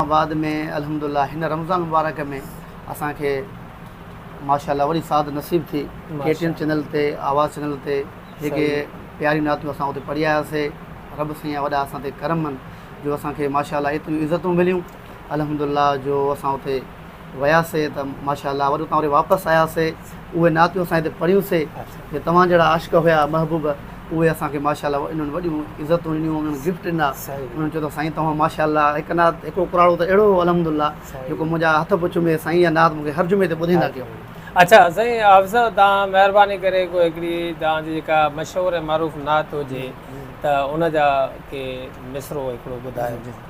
آباد ۾ الحمد الله هن رمضان مبارڪ ۾ اسان کي ماشاء الله وڏي سعادت نصيب ٿي ڪي ٽي ايم چينل تي آواز چينل تي جيڪي پياريون نعتون اسان اتي پڙهي آياسي رب سائين جا وڏا اسان تي ڪرم آهن جو اسان کي ماشاء الله ايتريون عزتون مليون الحمد الله جو اسان اتي وياسي ته ماشاء الله وري اتان واپس آياسي اهي نعتيون اسان هتي پڙهيون سي جو توهان جهڙا عاشق هيا محبوب اهي اسان کي ماشاء الله انهن وڏيون عزتون ڏنيون انهن گفٽ ڏنا انهن چيو ته سائين توهان ماشاء الله هڪ نعت هڪ اڪراڙو ته اهڙو هو الحمد الله جيڪو منهنجا هٿ به چمي سائين اها نعت مونکي هر جمعي تي ٻڌائيندا ڪيو اڇا سائين حافظ صاحب توهان مهرباني ڪري ڪو هڪڙي توهان جي جيڪا مشهور ۽ معروف نعت هجي ته ان جا ڪي مصرعو هڪڙو ٻڌايو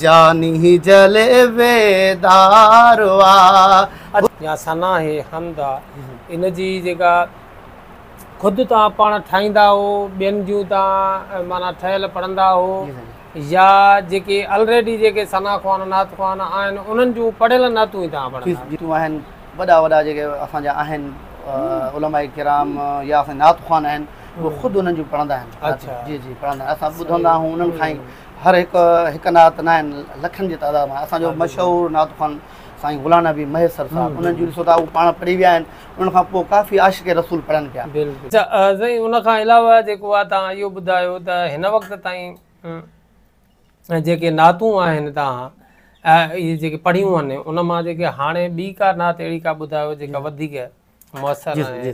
جاني جلويدار آ. يا ثنا هي حمد آ. ان جي جيڪا خود توهان پاڻ ٺاهيندا آهو ٻين جون توهان معنيٰ ٺهيل پڙهندا آهو يا جيڪي الريڊي جيڪي ثنا خوان نعت خوان آهن انهن جون پڙهيل نعتون ئي توهان پڙهندا آهيو. جيتون آهن وڏا وڏا جيڪي اسان جا آهن علماء ڪرام يا اسان جا نعت خوان آهن اهي خود انهن جون پڙهندا آهن. جي جي پڙهندا آهن اسان ٻڌندا آهون انهن کان ئي هر هڪ هڪ نعت ناهن لکن جي تعداد ۾ اسان جو مشهور نعت خوان سائين غلام نبي مهيسر صاحب انهن جون ڏسو ته هو پاڻ پڙهي ويا آهن انهن کان پوء ڪافي عاشق رسول پڙهن پيا. سائين ان کان علاوه جيڪو آهي توهان اهو ٻڌايو ته هن وقت تائين جيڪي نعتون آهن توهان اهي جيڪي پڙهيون آهن ان مان جيڪي هاڻي ٻي ڪا نعت اهڙي ڪا ٻڌايو جيڪا وڌيڪ مؤثر ۽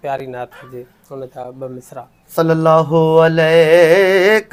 پياري نعت هجي ان جا ٻه مصرع. صلّي اللّٰه عليّ